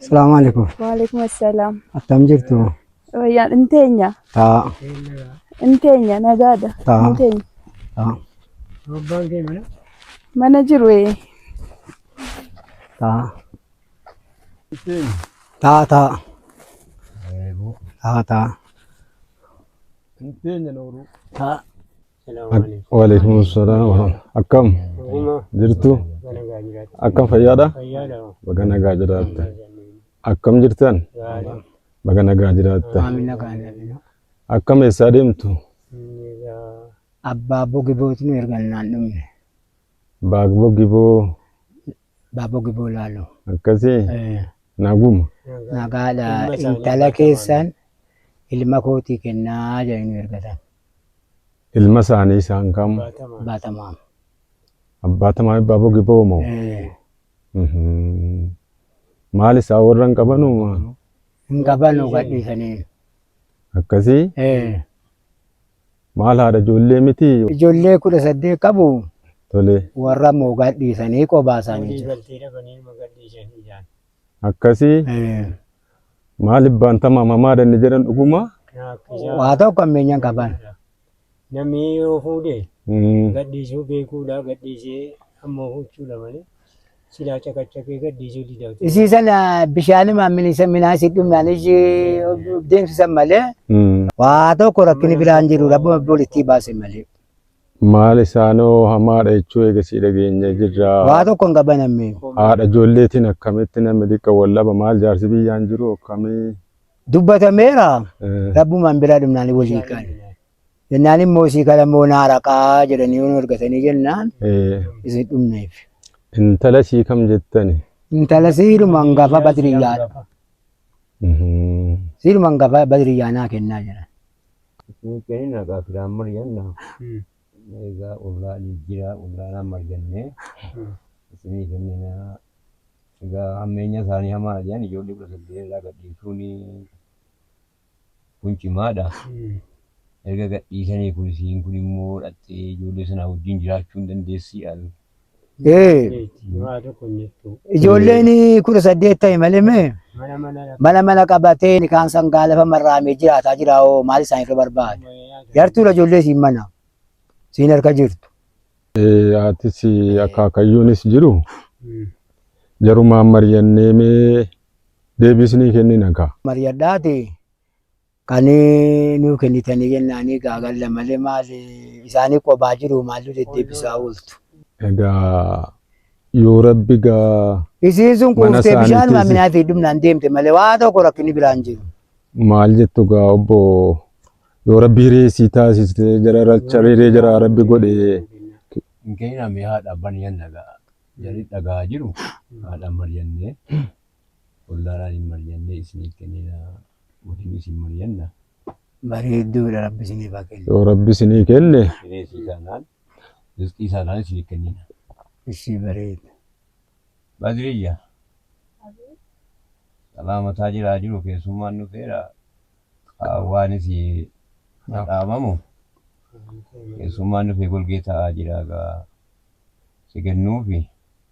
Salaamu alaikum. Waalaikum assalam. Attam jirtu? Wayyaan hin teenya. Taa. Hin teenya nagaadha. Taa. Hin teenya. Taa. Abbaan kee mana? Mana jiru ee. Taa. Taa taa. Taa taa. Hin teenya nooruu. Taa. Waalaikum salaam warahmatullahi Akkam jirtu? Akkam fayyaadha? Baga nagaa jiraatta. Akkam jirtan? Baga nagaa jiraatta. Akkam eessaa deemtu? Abbaa bogibooti nu ergannaan dhumne. Baagbo giboo Abbaa bogiboo laalu. akkasii Eh, naguma. Nagaadha intala keessan ilma kootii kennaa jedhanii nu ergatan. Ilma isaanii isaan kam? Abbaa Tamaam. Abbaa Tamaam Abbaa Bogiboo moo? Maal isaa warra hin qabanuu maa? Hin qabanu gadhiisanii. Akkasii? Maal haadha ijoollee miti? Ijoollee kudha saddeet qabu. Tole. Warra moo gadhiisanii qobaa isaanii jiru. Akkasii? Maalif baantama mamaa danni jedhan dhuguma. Rakkisa. Waa tokko ammeenyaan qaban. Namni yoo fuudhe Mm. gadhiisuu beekuudha gadhiisee ammoo huccuudha malee silaa caqacaqee gadhiisuu didatu. Isii sana bishaanii maamilisa minaasi dhumnaan ishii deemsisan malee Mm. waa tokko rakkini biraan jiru rabbuma bulittii baase malee. Maal isaanoo hamaadha jechuu eegasii dhageenye jirra. Waa tokko hin qaban ammee. Haadha ijoolleetiin akkamitti namni xiqqo wal dhaba maal jaarsi biyyaan jiru akkamii. Dubbatameera Eh, rabbumaan biraa dhumnaanii wal hiikan. Jennaan immoo isii kana immoo naa raqaa jedhanii yoo nu argatanii jennaan eh, isin dhumneef. Intala sii kam jettani? Intala siidhuma hangafa badriyyaadha. Mhm. Siidhuma hangafa badriyyaa naa kennaa jedhan. Isin kenin agaa firaan maryanna egaa ollaa jijjiraa ollaanaan maryannee isinii kenninaa egaa hammeenya isaanii hamaadha jedhan ijoollee kudha saddeet irraa gadhiisuun kun cimaadha erga gadhiisanii kun isiin kun immoo dhaqxee ijoollee sanaa wajjin jiraachuu hin dandeessii al Ee, Waa tokko hin jirtu. ijoolleen kudha saddeet ta'e malee mee Mana mana lafa. mana mana qabatee nikaan sangaa lafa marraamee jiraataa jira hoo maal isaan irra barbaada? Yartuudha ijoollee siin mana siin harka jirtu. Eh, Atis akaakayyuunis jiru jarumaan mari'annee mee deebisnii kennina kaa. Mariyadhaati Kani nuu kenitani jenani gagalla male mali isani qobaa jiruu mallu dedebisaa oltu. Egaa yoo rabbi gaa Isiin sun Mana quuftee bishaanuma isaaniitiif- minaa fi dhumnaan deemte malee waa tokko rakkinni biraan jiru. maal jettu gaa obbo yoo rabbi hiree sii taasiste jararacha hiree jaraa rabbi godhe Hin kenname haadha abbaan yanna gaa. Jarri dhagaa jiru haadha ammar yannee. Ollaadhaan hin mari'annee isiniif kennina waliin isin mari'anna. Bareedduudha rabbi isiniif haa kennu. Yoo rabbi isinii kenne. Bineensii taanaan rizqii isaadhaan isiniif kennina. Ishii bareeda. Badriyya. Taphaa mataa jiraa jiru keessummaan dhufeera. Qaawwaan isii dhaamamu. Keessummaan dhufee golgee taa'aa jira egaa si kennuufi.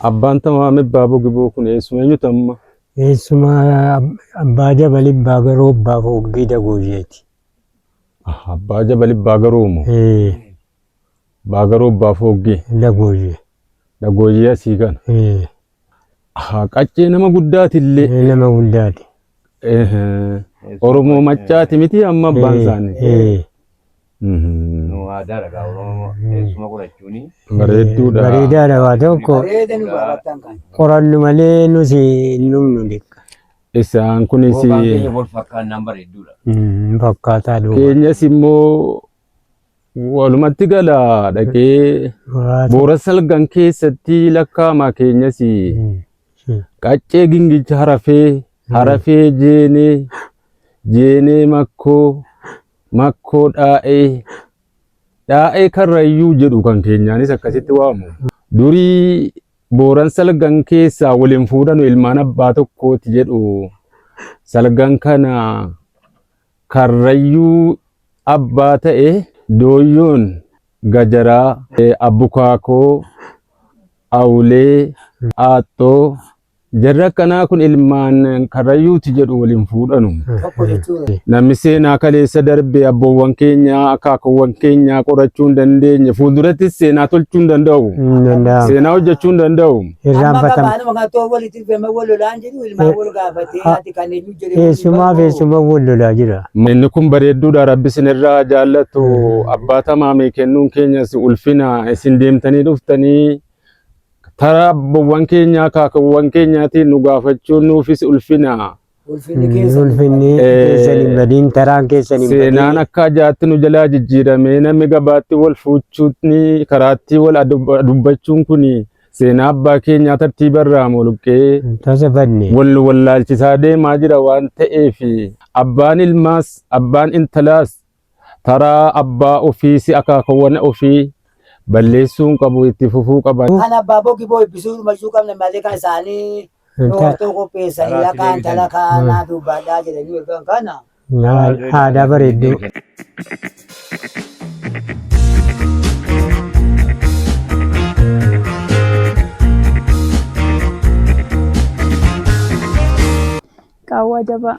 Abbaan tamaa ame baabo giboo kun eessuma eenyuti amma? Eessuma abbaa jabal ibbaa garoo abbaa foogdii dagoojeeti. Aha, abbaa jabal ibbaa garoo moo? Ee, Abbaa garoo abbaa fooggii. dagooje. Dhagooyyee asii kana. Ee, Aha, qaccee nama guddaati illee. ee, nama guddaati. Ehe. Oromoo maccaati miti amma abbaan Ee, isaanii. ee. Nu aadaa dhagaa Oromoo eessuma qorachuuni. Bareedduudha. Bareedaadha waa tokko Bareeda nu baafattan kan. qorannu malee nuti hin dhumnu dhiqqa. Isaan kunis Bookaan keenya wal fakkaannaan bareedduudha. Mm, Fakkaataa duuba. keenyas immoo walumatti gala dhaqee Waa tokko. boora salgan keessatti lakkaa'ama keenyas Mm, mm. qaccee gingicha harafee harafee jeenee jeenee makkoo Makkoo Dhaa'ee, Dhaa'ee Karrayyuu jedhu kan keenyaanis akkasitti waamu. Durii Booran Salgan keessaa wal hin fuudhanu ilmaan abbaa tokkooti jedhu. Salgan kana Karrayyuu abbaa ta'e Dooyyoon Gajaraa, Abbukaakoo, Awulee, Aaxxoo, Jarri akkanaa kun ilmaan karrayyuuti jedhu waliin fuudhanu. Tokko jechuun Namni seenaa kaleessa darbe abboowwan keenyaa akaakuwwan keenyaa qorachuu hin dandeenye fuuldurattis seenaa tolchuu hin danda'u. Hin danda'amu. Seenaa hojjechuu hin danda'u. amma Irraanfatama. qabaanuma kan too walitti dhufeema wal lolaan jedhu ilmaan Eh, wal gaafatee ah, ati kan eenyu jedhee Eessumaa fi eessumaa wal lolaa jira. Inni kun bareedduudha rabbi isinirraa jaallatu abbaa tamaamii kennuun keenyas ulfina isin deemtanii dhuftanii Taraa abbawwan keenyaa kaakawwan keenyaatiin nu gaafachuun nuufis ulfina. Ulfinni keessa. Ulfinni Eh, keessan hin badiin taraan keessan hin Seenaan badiin. akka ajaatti nu jalaa jijjiiramee namni gabaatti wal fuuchuutni karaatti wal adub- dubbachuun kun seenaa abbaa keenyaa tartiiba irraa muluqqee Tasa badne. wal nu wallaalchisaa deemaa jira waan ta'eef abbaan ilmaas abbaan intalaas Taraa abbaa ofii si akaakawwan ofii balleessuun qabu itti fufuu qaban. Kan abbaa boo giboo ebbisuu dhumayyuu qabna malee kan isaanii dhoortoo qopheessanii yaqaan talakaa naa duubbaadhaa jedhanii ergan kana. Aadaa bareedduu. Qaawwaa jabaa.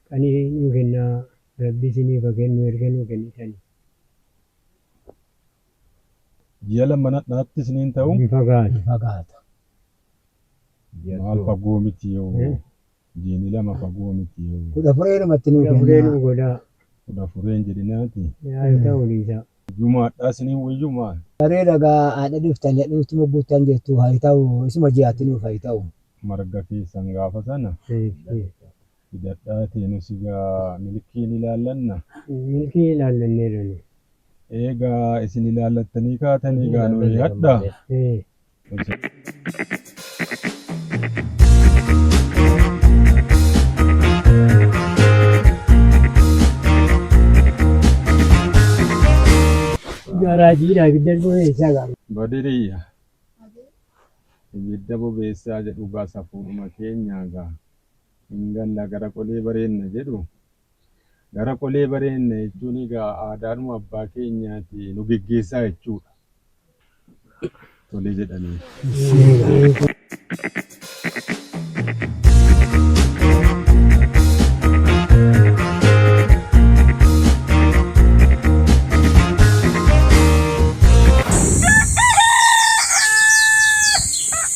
Qani nuu kennaa rabbi isinif ha kennu erga nuu kennitani. Ji'a lama mana dhatti isiniin ta'u. Hin fagaatu. Hin fagaata. Maal fagoo miti yoo. Jiini lama fagoo miti yoo. Kudha fureenumatti nuu kennaa. Kudha furee nuu godhaa. Kudha furee hin jedhinaati. Yaa ta'u dhiisaa. Jumaadhaa isiniin wayyu maal. Saree dhagaa adha dhiftani adha nutti mogguuttan jettu ha ta'u isuma ji'atti nuuf ha ta'u. Marga keessan gaafa sana. Hidhadhaatii nus egaa milkii ni ilaallanna. Milkii ilaallanneerra nuyi. Eegaa isin ilaallattanii kaatanii egaa nu hidhadha. Ee. Garaa jiidhaa ibidda dhufee isaa gaara. Badiriyya. Ibidda bobeessaa jedhu gaa safuudhuma keenyaa gaa. hin galla gara qolee bareenna jedhu. Gara qolee bareenna jechuun egaa aadaadhuma abbaa keenyaati nu geggeessaa jechuudha. Tole jedhaniin.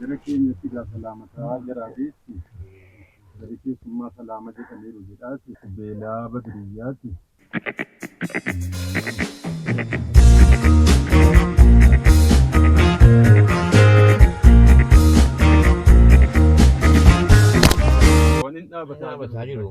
Gara keenyatti egaa salaama ta'aa jira beekti. Gara keessummaa salaama jedhaniiru jedhaati. Beelaa Badriyyaati. Waan hin dhaabataa jiru.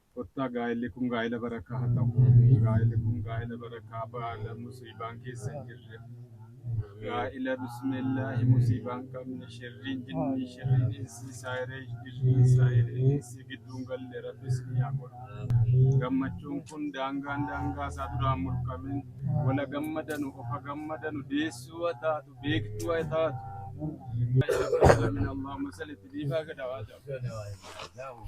Kottaa gaa'elli kun gaa'ela barakaa ha ta'u. Gaa'elli kun gaa'ela barakaa baala musiibaan keessa hin jirre. Gaa'ela bismillaahi musiibaan qabne sherriin jinnii sherriin insii saayiree jirriin saayiree insii gidduun galle rabbi isinii haa godhu. Gammachuun kun daangaan daangaa isaa duraan mulqamin wala gammadanu ofa gammadanu deessuu ha taatu beektuu ha taatu. Alhamdulillah Rabbil Alamin Allahumma salli itti dhiifaa gadaa haa ta'u.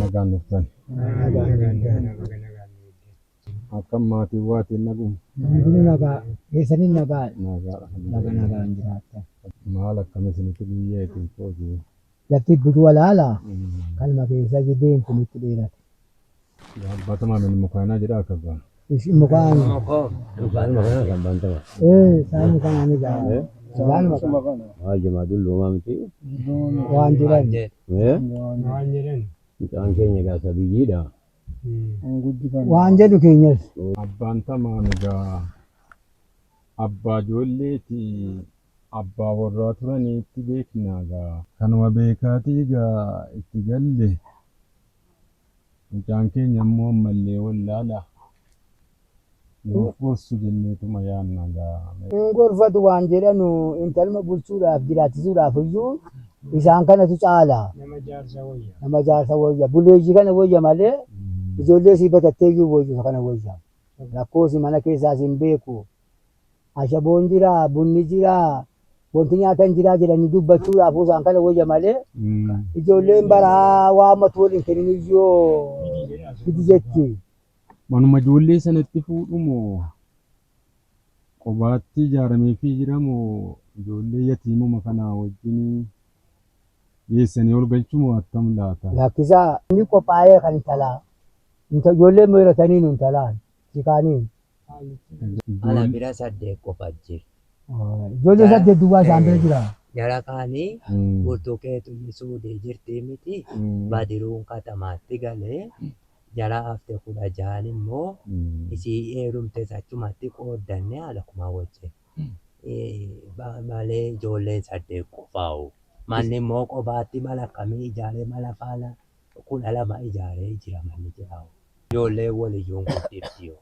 nagaan dhuftan. Akkam maatiin waatiin naguma. Hundinuu nagaa keessaniin nagaa Nagaa nagaa nagaan jiraattan. maal akkam isinitti guyyaa ittiin qoodee. Lafti butu walaala kalma keessa jideen kun itti dheerate. Bantama min mukaana jedha akka baan. Ish mukaan Mukaan mukaan kan bantama. ee isaan mukaan ani gaa isaan mukaan Haa jamaa dullumaa miti. waan jedhan Eh? Mucaan keenya egaa isa biyyiidha. waan jedhu keenyas Abbaan tamaa migaa abbaa ijoolleeti Abbaa warraa turanii itti beeknaa gaa. Kanuma beekaatii gaa itti galle. Mucaan keenya ammoo ammallee wallaala. Nuuf gorsu jenneetuma yaanna gaa. Hin gorfatu waan jedhanu intaluma bulchuudhaaf jiraachisuudhaaf iyyuu isaan kanatu caala. Nama jaarsa woyya. Nama jaarsa woyya. Buleeyyii kana woyya malee ijoollee isii batattee iyyuu woyyu isa kana woyya. Rakkoo isii mana keessaas hin beeku. ashaboon jira, bunni jira, wanti nyaatan jira jedhanii dubbachuu laafuu isaan kana wayya malee ijoolleen baraa waan matu waliin kennin iyyoo gidi jetti. Manuma ijoollee sanatti fuudhu moo qobaatti ijaarameefii jira moo ijoollee yatiimuma kanaa wajjin geessanii ol galchu moo attam laata? Lakkisaa inni qophaa'ee kan intalaa inta ijoolleen meerataniinu intalaan. Si kaaniin. Ala bira saddeet qofa jira. Ijoollee saddeet duwwaa isaan bira jira. Jara kaanii burtukeetunni suudii jirtii miti badiruun katamaatti gale jara hafte kudha jahan immoo isii heerumtes achumatti qooddanne haala kumaa wajjin malee ijoolleen saddeet qofaa'u manni immoo qobaatti mala akkamii ijaaree mala faala kudha lama ijaaree jira manni citaa. Ijoolleen wal iyyuu hin guddifti yoo.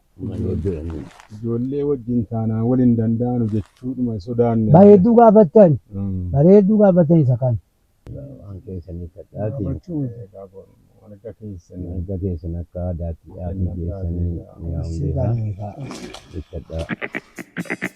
Ijoollee wajjin taanaan wal hin danda'anu jechuudhuma sodaanne. Bareedduu gaafattan? Bareedduu gaafattan isa kana. Waan keessan hiikkadhaatii. Gaafachuu mirga keessan. Mirga keessan akka aadaatti dhaatii keessanii mi'aawun beekaa. Hiikkadhaa.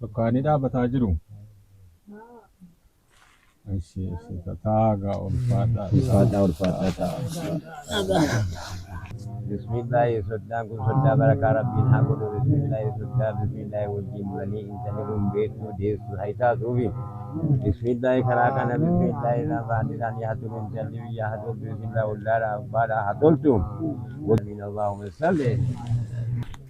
Tokkaanii dhaabataa jiru. Ishi ishi tataa gaa ulfaadhaa. Ulfaadhaa ulfaadhaa ta'a. Bismillaahi soddaan kun soddaa barakaa rabbiin haa godhu bismillaahi soddaa bismillaahi wajjin bulanii intalli kun beektuu deessu haa taatuufi bismillaahi karaa kana bismillaahi lafaan isaan yaa tolu intalli biyya haa toltu bismillaahi wallaadha abbaadha haa toltu wajjin allaahumma salli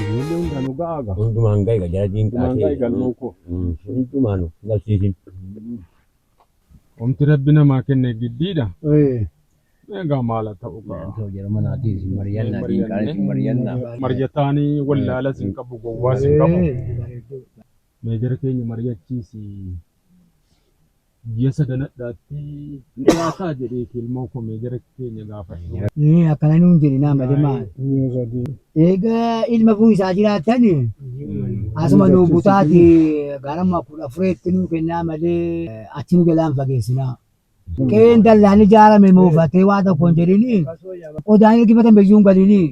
Ijoollee hundaa nu ga'aa gaa. Hundumaan gahe gaa jara diinqaa Hundumaan gahe galmoo koo. Hundumaa nu galchiisin. Omti rabbi namaa kenne giddiidha. Egaa maala ta'u gaa. Too jara manaatii isin mari'annaa diinqaan isin mari'annaa. Marjataanii wallaala sin qabu gowwaa sin qabu. Meejara keenya mari'achiisi. Ji'a sadanadhaatti hin dhiyaataa jedheeti ilmoo koo mee gara keenya gaafadhu. Ee akkana nuun jedhe naa malee maal. Eega ilma kun isaa jiraatan asuma nuu butaati garama kudha afureetti nuu kennaa malee achi nu jalaan fageessinaa. Qeen dallaan ijaarame moofatee waa tokko hin jedhini qodaan ergifatan biyyuu hin galini.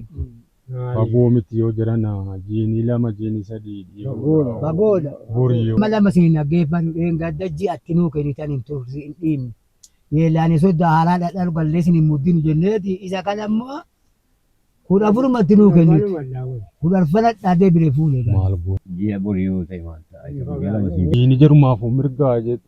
Bagoo miti yoo jiran jiini lama jiini sadii dhiibuudha. Bagoodha. Bori yoo. Amma lama siin dhaggeeffannu dheengadda ji'a itti nuu kennitan hin turre hin dhiibne. Yeellaanee soddaa haaraa dhadharu gallee isin hin muddinu jenneeti isa kana immoo kudha afuruma itti nuu kennite. Kudha arfan hadhaa deebinee fuune egaa. Maal goona. Ji'a bori yoo ta'e maal ta'a isa guyyaa lama siin. Jiini jarumaafuu mirgaa jetti.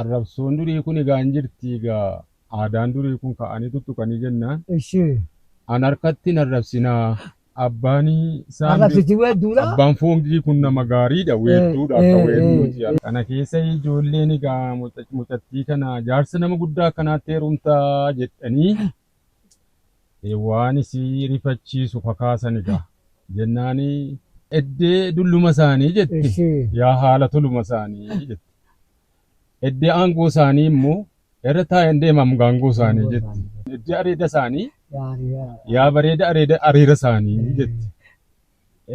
Arrabsoon durii kun egaa hin jirti egaa aadaan durii kun ka'anii tuttuqanii jennaan Ishii. an harkatti hin arrabsinaa abbaan isaan Arrabsiti weedduudha. abbaan foongii kun nama gaariidha Eh, weedduudha akka eh, weedduuti eh, eh. kana keessa ijoolleen egaa muca- mucattii kana jaarsa nama guddaa akkanaatti heerumtaa jedhanii Waan isi rifachiisu kakaasani ga. Jennaani eddee dulluma isaanii jetti Ishii. yaa haala toluma isaanii jetti. Eddee aangoo isaanii immoo irra taa'een deemam gaangoo isaanii jetti. Eddee areeda isaanii Yaariyaa. yaa bareeda areeda areera isaanii jetti.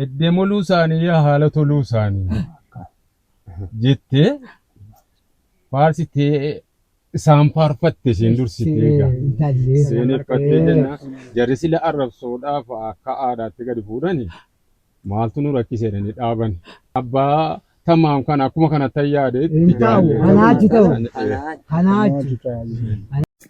Eddee moluu isaanii yaa haala toluu isaanii. jettee faarsitee isaan faarfatte isheen dursitee egaa. Intallee. Seeneffattee jenna jarri sila arrabsoodhaaf akka aadaatti gadi fuudhani maaltu nu rakkise jedhanii dhaaban. Abbaa tamaam kana akkuma kanatti yaade Hin taa'u, anaachi ta'u. Anaachi.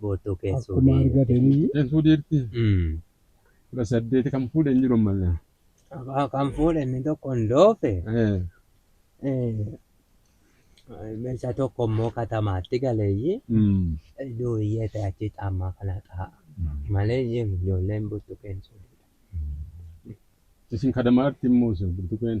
Gootoo keessoo Akkuma deemte. argatanii Keessoo deerti Mm. kudha saddeeti kan fuudhe hin jiru ammallee. Abbaa kan fuudhe inni tokko hin doofe. Eh, Meeshaa tokko immoo katamaatti galeeyyi. mm. Duuyyee ta'e achi caammaa kana ta'a. Malee jiru ijoolleen buttu keessoo. Isin kadamaatti immoo isin burtuqeen.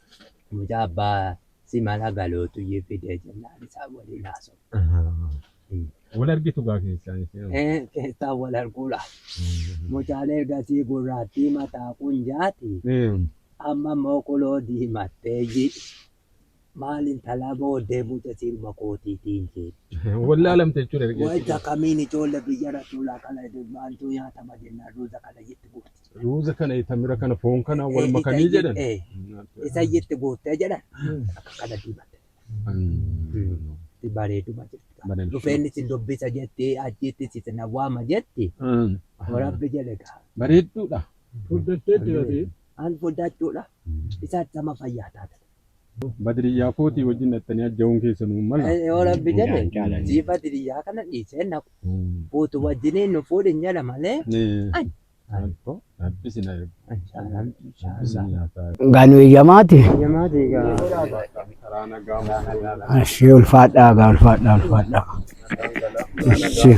Mucaa abbaa si mala galootu iyyuu fidee jennaan isaan waliin haasofne. Wal argitu gaa keessaan ishee. Ee keessaan wal arguu laa. Mucaan ergasii gurraattii mataa qunjaati. Amma immoo kuloo diimatteeyyi. Maal intalaa booddee muca siiruma kootiitiin jeetti. Wallaalamte jechuudha. Wayita kamiin ijoollee biyya rasuulaa kana waan nyaatama jennaan ruuza kana jetti gurti. Ruuza kana tamira kana foon kana Eh, wal eh, makanii isa jedhan. eh, isa iyyatti guuttee jedhan akka kana diimate itti bareeduma jirti dhufeenni si dubbisa jetti achiitti si na waama jetti warabbi jedhe gaa Bareedduudha. Fuddattee jirati. an fuddachuudha isaatti sama fayyaa taate Badiriyyaa kootii wajjin dhattanii ajja'uun keessanuu mala. Eh, warabbi jedhe Jaan jaalani. siifa diriyyaa kana dhiisee na fuutu wajjiniin nu fuudhin jedha malee Eh, Gaanu eeyyamaati. Ashii ulfaadhaa gaa ulfaadhaa ulfaadhaa. Ashii.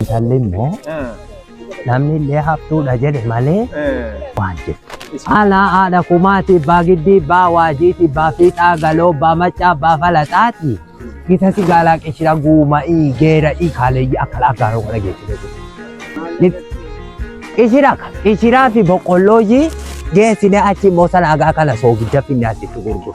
Intalli immoo namni illee haftuudha jedhe malee waan jettu. Haala haadha kumaati baa giddii baa waajiiti baa fiixaa galoo baa maccaa baa falaxaati. Gita si gaalaa qishira guuma'ii geera'ii kaaleeyyii akka laagaaroo kana geessite. Qishira qishiraa fi boqqollooyyii geessine achi immoo salaagaa kana soogidda finnaasitti gurguru.